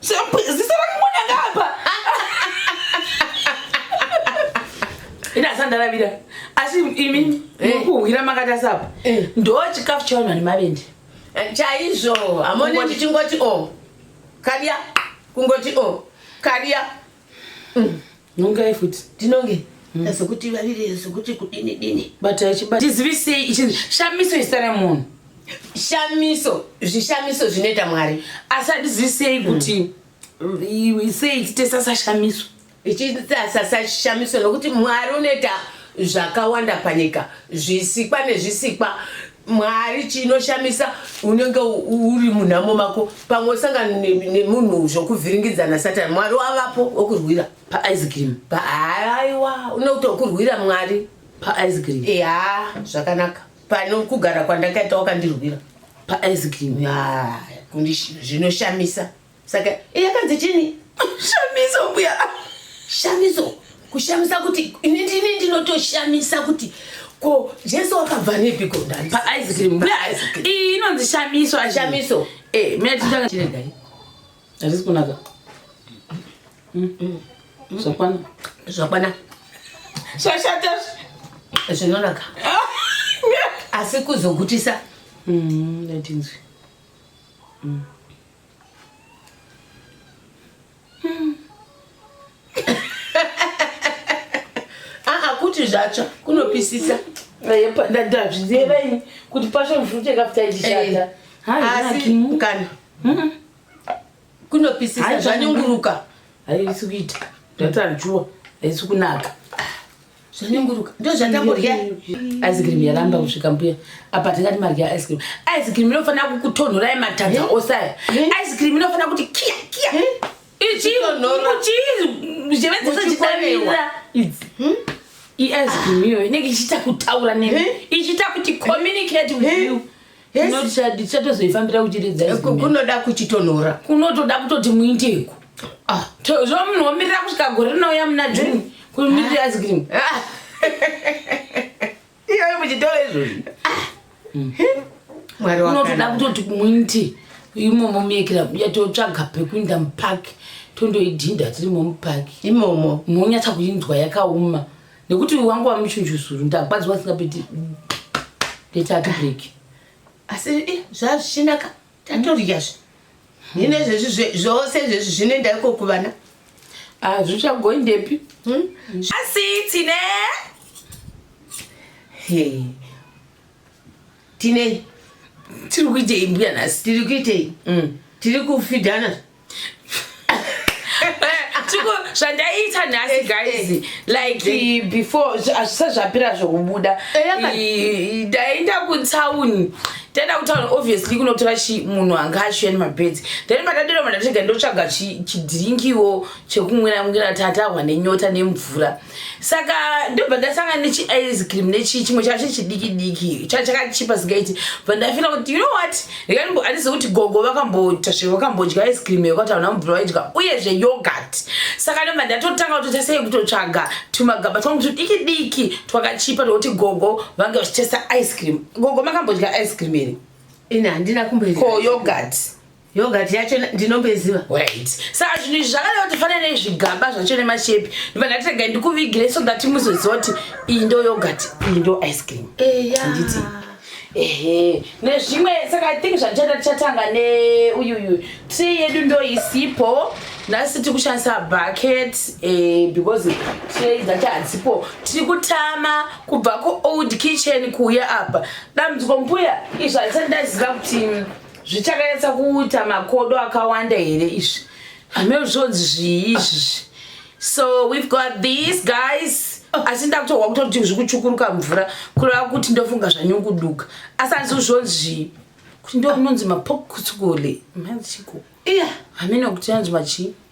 zisa rakungonanga apa ini asandaravira asi imi eh. mukuhwira makatasa apa eh. ndo chikafu chavanhu vane mavende eh, chaizvo hamoni ndichingoti o oh, kariya kungoti o oh, kariya mm. nongai futi tinonge hmm. sokuti vaviri sokuti kudini dini bata ichibata tizivisei ichi shamiso izita remunhu shamiso zvishamiso zvinoita mwari asi atizivisei hmm. kuti hmm. sei titesasa shamiso ichitasasa shamiso nokuti mwari unoita zvakawanda panyika zvisikwa nezvisikwa mwari chinoshamisa unenge uri munhamo mako pamwe usangana nemunhu zvokuvhiringidzana satani mwari wavapo wokurwira paice cream paaiwa unokuti wokurwira mwari paice cream ya zvakanaka pane kugara kwandakaita wakandirwira paice cream ya kundi zvinoshamisa saka iye akanzi chini shamiso mbuya shamiso kushamisa kuti ini ndini ndinotoshamisa kuti ko jesu wakabva nepi ko ndani pa ice cream mbuya ice cream iyi inonzi shamiso ayi. shamiso eh mina tichanga chine dai hazvisi kunaka zvakwana zvakwana zvashata zvinonaka asi kuzogutisa ndatinzwi kuti zvatsva kunopisisa ndazvizevaini kuti passion fruit yakafuta ichishanda asi kana hmm? kunopisisa zvanyunguruka haisi kuita ndatajuwa haisi kunaka zvanyunguruka ndozvatangorya ice cream yaramba kusvika mbuya apa tingati marya ice cream ice cream inofanira kukutonhorai matadza eh? ose aya eh? ice cream inofanira kuti kia kia eh? ichiichiivedzisachitamira idzi hmm? iice cream iyoyo inenge ichiita kutaura nemi ichiita kuti communicate with you hesichatozoifambira kuchiredzakunoda kuchitonhora kunotoda kutoti muindeko ah. zvomunhu womirira kusvika gore rinouya muna june kumirira ice cream ah. iyoyo muchitoro izvozvi unotoda kutoti kumuindi imomo muyekera kuya totsvaga pekuinda mupaki tondoidhinda tiri momupaki imomo monyatsa kuinzwa yakauma nekuti uyu wangu wamuchunjuzuru ndakwadziwa singapiti ndetati break asi eh, zvazvichinaka tatoryazve nine zvezvi zvose zvezvi zvine ndaiko kuvana ah, zvichagoi ndepi hmm? asi tine tine tiri kuitei mbuya nhasi tiri kuitei hmm. tiri kufidhana chiko zvandaiita nhasi eh, guys eh, like before azvisa zvapira zvokubuda eh, ndaenda kutauni taenda kutauni obviously kunotora chi munhu anga ashiya nemabedzi then patadiro mandatega ndotsvaga chidhiringiwo chekumwira mwira tatahwa nenyota nemvura saka ndobva ndasanga nechi ice cream nechi chimwe chacho chidiki diki cha chakachipa zingaiti bva ndafila kuti you know what rekanimbo handizi kuti gogo vakamboita zve vakambodya ice cream yekuti havana mubvira vaidya uye zve yogurt saka ndobva ndatotanga kutoita sei kutotsvaga tumagaba twangu tudiki diki twakachipa tokuti gogo vange vachitesta ice cream gogo makambodya ice cream here ini handina kumboiko yogurt yogurt yacho ndinomboiziva right sa zvinhu izvi zvakada kuti fana nezvigaba zvacho nemashepi ndiva ndatega ndikuvigire so that muzoziva kuti iyi ndo yogurt iyi ndo ice cream anditi ehe nezvimwe saka i think zvandichaita tichatanga neuyuyu tree yedu ndo isipo nhasi tiri kushandisa bucket eh, because tree dzacho hadzipo tiri kutama kubva kuold kitchen kuuya apa dambudziko mbuya izvi handisati ndaziva kuti zvichakanyatsa kuita makodo akawanda here izvi hameno zvonzi zvii izvizvi so we've got these guys asi ndakutohwa kutoti zvi kuchukuruka mvura kureva kuti ndofunga zvanyunguduka asi andisi zvonzi zvii kuti ndokunonzi mapokutsukole machiko iya hameno kuti anzi machii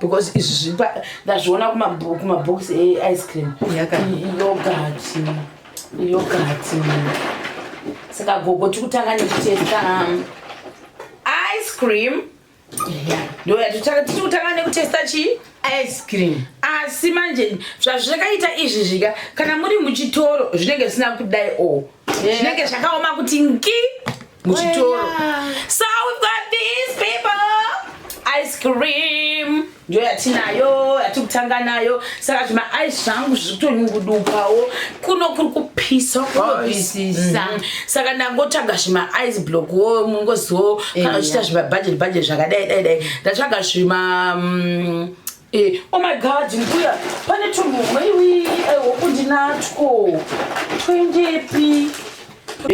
because izvi ndazviona kumabhokisi eice cream yogati yogati saka gogo tiri kutanga nekutesta um, ice cream ndoya tiri kutanga nekutesta chii ice cream asi manje zvazvakaita izvi zvika kana muri muchitoro zvinenge zvisina kudai o eh. zvinenge zvakaoma kuti nki muchitoro so we've got these people ice cream ndiyo yatinayo yatikutanga nayo saka zvima ice zvangu zvitonyungudukawo kuno kuri kupisa kunopisisa mhm. saka ndangotsvaga zvima ice block wo mungoziwo kana uchiita zvima budget budget zvakadai dai dai ndatsvaga zvima mm, Eh, oh my god, mbuya, pane twumhumwe iwi, I hope ndinatwo. Twendepi?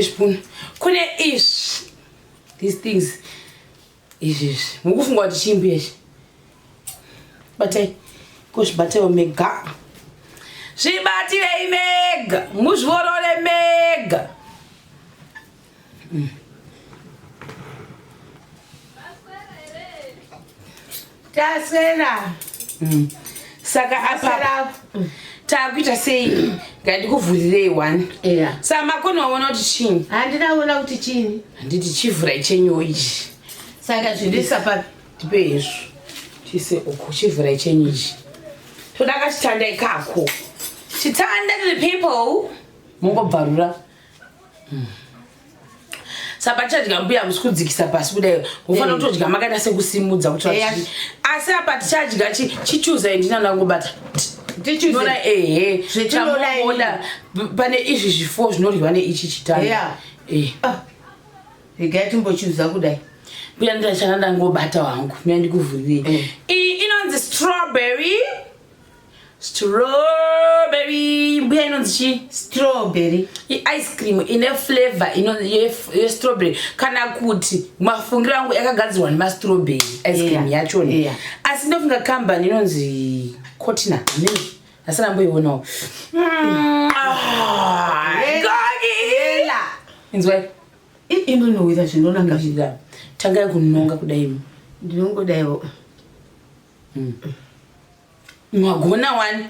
Spoon. Kune ish. These things. Ish ish. Mukufunga kuti chimbi ish. Batai. Kosh batai omega. Zvibatirei mega. Muzvivorore mega. taswera mm. saka apa takuita sei ngandikuvhurirei one sa makoni waona kuti chini handina ona kuti chini handiti chivhura ichenyo ichi saka zvindisa papi tipe hezvo tise uku chivhura ichenyo ichi toda kachitanda ikako chitanda to the people mungobvarura Hmm. sapatichadya mbuya hamusi kudzikisa pasi kudai ufanira eh. kutodya makaita sekusimudza kuti eh, asi apa tichadya chichuza indinanangobata tichiona ehe zvetinoona pane izvi zvifo zvinoryiwa neichi chitano eh. ah. regai timbochiuza kudai mbuya ndachana ndangobata wangu mya ndikuvhurire iyi inonzi strawberry strawberry mbuya inonzi chii strawberry iice cream ine flavor yestrawberry kana kuti mafungiro angu yakagadzirwa nemastrawberry ice cream yachona yeah. asi ndofunga kambani inonzi cotina amene asi ramboionawo mm, ah, inzwai inonowira zvinonanga zvidaa tangai kunonga kudai ndinongodaiwo mm. Mwagona wani.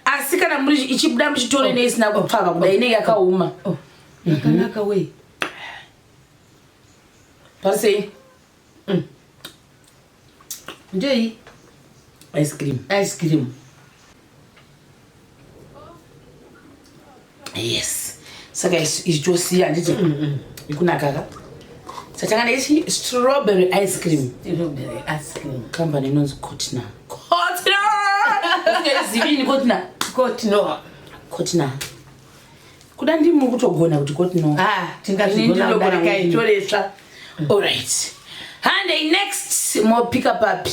Asi kana muri ichibuda muchitore oh. neisina kupfava kuda oh. inenge yakaoma. Oh. Yakanaka mm-hmm. we. Pasei. Mm. Ndei. Ice cream. Ice cream. yes saka izvi tosiya handiti mm, mm. ikunakaka satanga neichi strawberry ice cream kambani inonzi cotna cotnazivini cotna cotno cotna kuda ndimi kutogona kuti cotno ah, tingazvigonaaitoresva mm. allright handei next mopika papi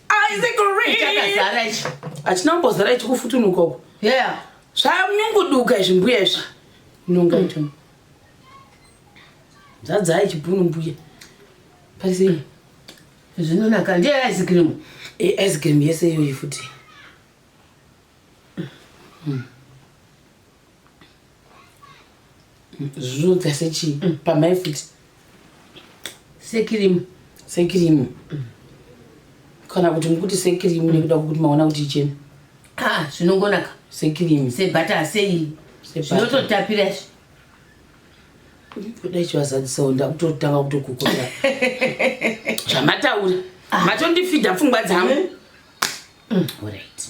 chakazara ichi hachina kumbozara ichi kufutunuka uko yeah zvanyunguduka izvi mbuya izvi nonga mm. itono zvadzai chibhunu mbuya parisei zvinonaka ndiye ice cream e, ice cream yese iyoyi futi mm. zvinodza sechii mm. pamai futi sekirimu sekirimu mm. kana kuti mukuti sekirimu nekuda kwokuti maona kuti ichena a zvinongonaka sekirimu sebhata sei zvinototapira izvi kudai chivazadzisao ndakutotanga kutokukoa zvamataura ah. matondifidha pfungwa dzangu Mm, alright.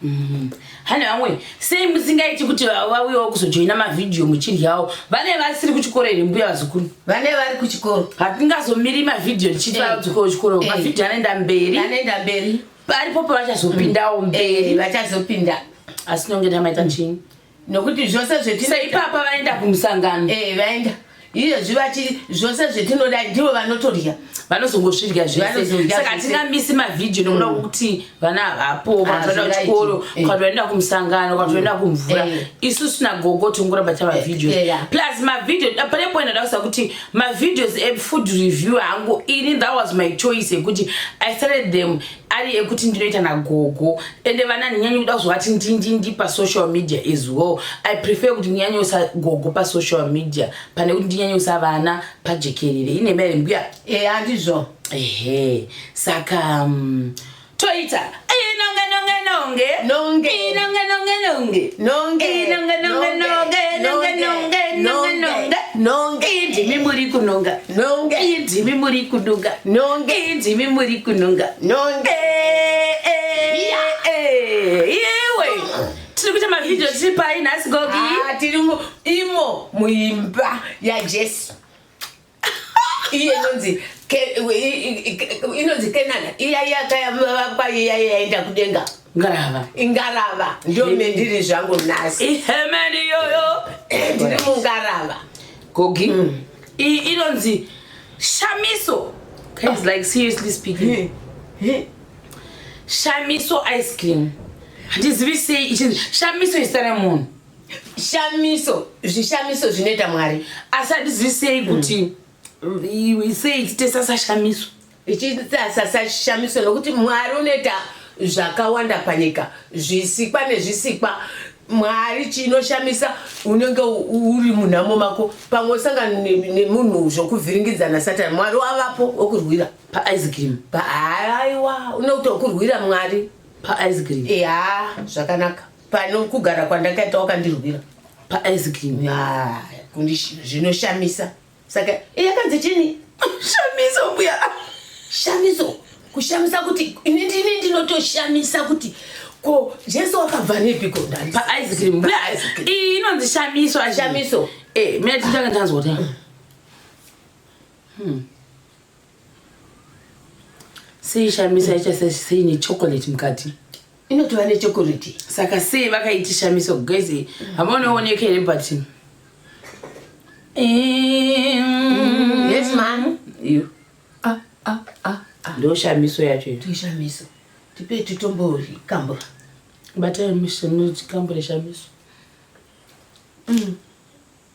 Mm. Hane vamwe sei musingaiti kuti vauyawo kuzojoina mavhidhiyo muchidyawo vane vasiri kuchikoro here mbuya vazukuru vane vari kuchikoro hatingazomiri mavhidhiyo tichiti eh. vadzukuru kuchikoro eh. mavhidhiyo anoenda mberi anoenda mberi paripo pavachazopindawo mberi eh, vachazopinda asi nonge ndamaita chii nokuti zvose zvetisaipapo vaenda kumusangano e, vaenda iyezvi vati zvose zvetinoda ndivo vanotodya vanozongosvirya zvesaka tingamisi mavhidhiyo nokuda mm. kwokuti vana havapo ah, katoenda kuchikoro eh. katoenda kumusangano katoenda mm. kumvura eh. isu sina gogo tingoramba ta mavhidhios eh, plus mavhidhio pane point ndausa kuti mavhidhios efood review hangu ini that was my choice yekuti i started them ari ekuti ndinoita nagogo ende vana handinyanyi kuda kuzovati ndindindi pasocial media as well i prefer kuti ndinyanyeusa gogo pasocial media pane kuti ndinyanyeusa vana pajekerere inhema here mbuya e handizvo ehe saka um, toita ndimi muri kunonga nonga indimi muri kunonga nonga indimi muri kunonga nonga iwe tiri kuita mavhidhiyo tiri pai nhasi gogi ah, tiri imo muimba yajesu iye inonzi inonzi kenana iya iya kaya vavakwa iya yaenda kudenga ngarava ingarava ndiyo mendiri zvangu nhasi ihemeni iyoyo ndiri mungarava gogi mm. inonzi shamiso guys like seriously speaking shamiso ice cream handizivi sei ichinzi shamiso izita remunhu shamiso zvishamiso zvinoita mwari asi handizivi sei kuti mm. sei ichitesa sashamiso ichisasashamiswa nokuti mwari unoita zvakawanda panyika zvisikwa nezvisikwa mwari chinoshamisa unenge uri munhamo mako pamwe usangana nemunhu zvokuvhiringidzana satani mwari wavapo wokurwira paice cream paaiwa unokuti wokurwira mwari paice cream ya zvakanaka pano kugara kwandakaita wakandirwira paice cream ya zvinoshamisa saka iye akanzi chini shamiso mbuya shamiso kushamisa kuti ini ndini ndinotoshamisa kuti ko jesu wakabva nepi ko ndani paice cream mbuya ice cream iyi inonzi shamiso achi- shamiso Eh, mina tichanga ndanzwa kuti Hmm. sei shamisa icha se- seine chocolate mukati inotova nechokoriti saka sei vakaiti shamiso gezi hamaoneoneke here but yes man you ah ah ah ah ndo shamiso yacho ito shamiso tipe titombori kambura batai mishamiso kambura shamiso mm.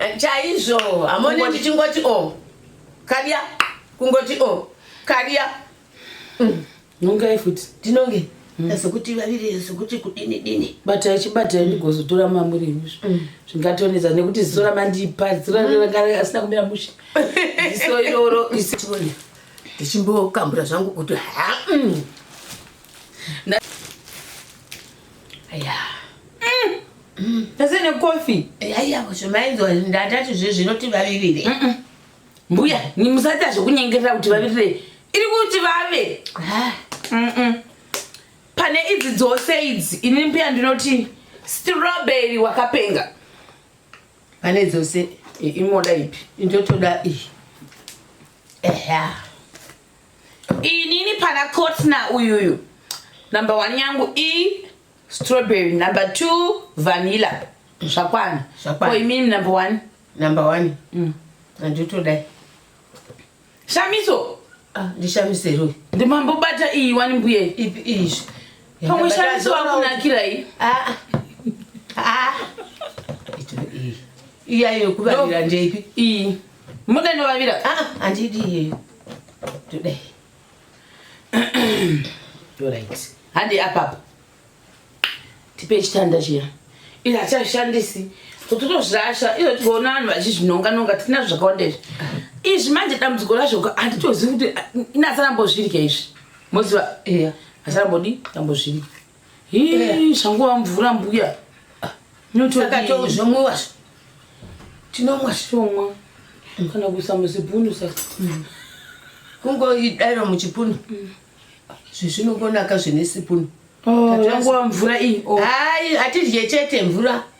Eh, chaizvo hamoni ndichingoti o oh, kadya kungoti o oh, kadya mm. nongai futi tinonge mm. sokuti vaviri sokuti kudini dini bata ichibata ndigozotora mamuri imi mm. zvingatonedza nekuti ziso ramandipa ziso raaa asina kumira mushe ziso iroro isione ndichimbokambura zvangu kuti haa tese mm. nekofi yaiya zvomainzwa ndatati zvezvinoti vavirire mbuya musati azvokunyengerera kuti vavirire iri kuti vave pane idzi dzose idzi ini mbuya ndinoti strawberry wakapenga pane dzose imoda ipi ndotoda iyi eha inini pana kotna uyuyu number one yangu i strawberry number two vanilla zvakwana ko imini number one number one mm. anditodai shamiso ah, ndishamiseroi ndimambobata iyi wani mbuye ipi izvi pamwe shamiso wakunakira iyi ah, ah. iyayo yekuvarira ndeipi iyi muda inovavira andidi iyeyo today right hande apapa tipe chitanda chiya iri hachashandisi tototozvirasha izo tigoona vanhu vachizvinonga nonga tinazvo zvakawanda izvi izvi manje dambudziko razvo handitozivi kuti inasarambozvirika izvi moziva asarambodi tambozvirika Hii zvangova mvura mbuya. Saka to zvomwiwa zvo. Tinomwa zvomwa. Kana kuisa muzibhunu saka. Mm. Kungoidairo muchipunu. Mm. Zvezvinongonaka zvine sipunu. Oh, yangova mvura iyi. Oh. Hai, hatidye chete mvura.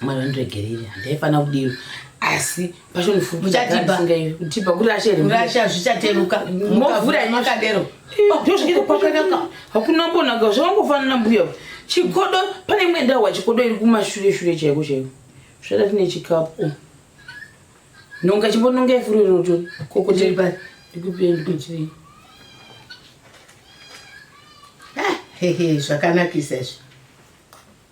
mwari vandiregerere handaifanira kudiro asi pashonifutipa kurasha zvichateruka movhura makadero ndozviri kwakanaka hakuna mbonaka zvakangofanana mbuya chikodo pane imwe ndawo wachikodo iri kumashure shure chaiko chaiko zvada tine chikapu nonga chimbononga ifururoto kokotepa ndikupendukuchii ah, hehe zvakanakisa izvi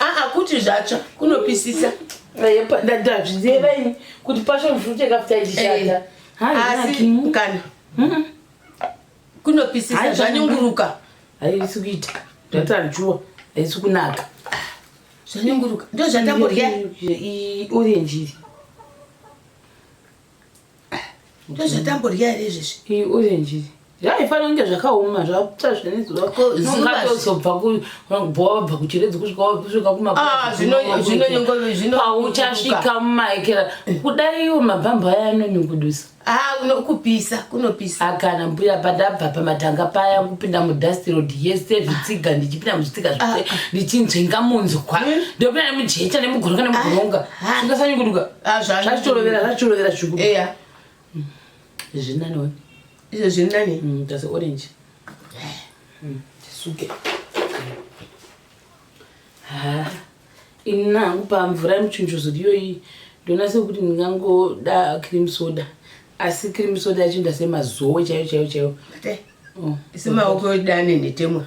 aa kuti zvatsva kunopisisa ndazvizevaini kuti passion fruit ekafutaidishata asi kana hmm? kunopisisa zvanyunguruka haisi kuita zvatanjuwa haisi kunaka zvanyunguruka ndozvatamborya orenji iri ndozvatambodya here izvezvi iyi orange iyi zvaifanira kunge zvakaoma zvatsva zvenezvakatozobva kubhowa vabva kuchiredzi kusvika kusvika kumapauchasvika ah, mumaekera kudai iwo mabhambo aya anonyungudusa ah, kupisa kunopisa akana ah, mbuya padabva pamatanga paya kupinda mudustirod yese zvitsiga ndichipinda muzvitsiga zvese ndichinzvenga munzwa hmm? ndopinda nemujecha nemugoroka nemugoronga zvingasanyunguduka Ah, zvazvitorovera zvazvitorovera zviku eya mm. zvinani we izvo zvinani mm, tase orange mm, tisuke ha inini hangu pamvura yemuchinjuzo iyoyi ndonase kuti ndingangoda cream soda asi cream soda yacho ndase mazowe chaiyo chaiyo chaiyo ise maoko edanenhetemwa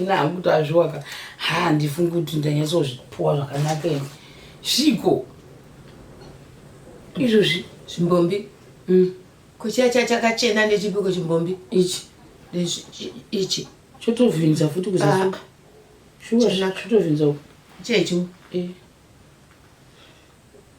ina hangu kuti azviwaka ha ndifungi kuti ndanyatsozvipuwa zvakanaka ini zviko izvozvi zvimbombi mm. kuchiya chiya chakachena ndechipiko chimbombi ichi ichi chotovhinza futi kuzasaka ah. shuwa chotovhinza uku checho eh.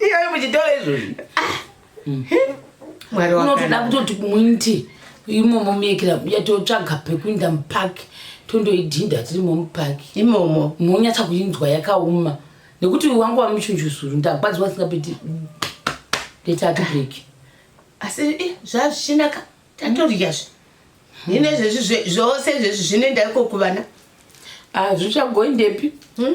Iye muchitaura izvozvi. Mwari wakanaka. Unotoda kutoti mwinti imomo miyekera kuya totsvaga pekuinda mupaki tondoidhinda tiri momupaki imomo monyatsa kuinzwa yakauma nekuti uyu wangu wamuchunjuzuru ndagwadziwa asingapeti ndetati break asi eh, zvazvishinaka tatoryazve hino izvezvi zvose izvezvi zvinoenda iko kuvana ah, zvichagoindepi hmm?